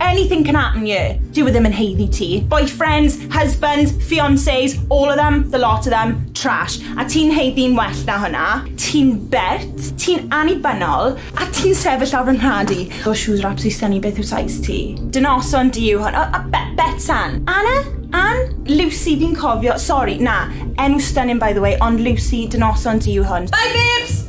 Anything can happen yeah. Dyw e ddim yn haeddu ti. Boyfriends, husbands, fiancés, all of them, the lot of them, trash. A ti'n haeddu'n well na hwnna. Ti'n bert, ti'n annibynnol, a ti'n sefyll ar fy nhad i. Those shoes are absolutely stunning, beth yw size ti? Dy noson di yw hwn. A, a be, Betsan? Anna? Ann? Lucy, fi'n cofio, sori, na, enw stunning by the way, ond Lucy, dy noson di yw hwn. Bye babes!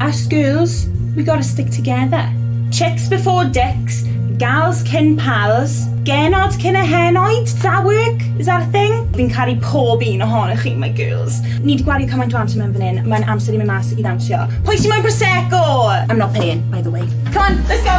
Our schools, we gotta stick together. Chicks before dicks, gals cyn pals, genod cyn y henoed, does that work? Is that a thing? Fi'n caru pob un ohonych chi, my girls. Ni wedi gwario cymaint o amser mewn fan hyn, mae'n amser i mi mas i ddawnsio. Pwy sy'n moyn Prosecco? I'm not paying, by the way. Come on, let's go!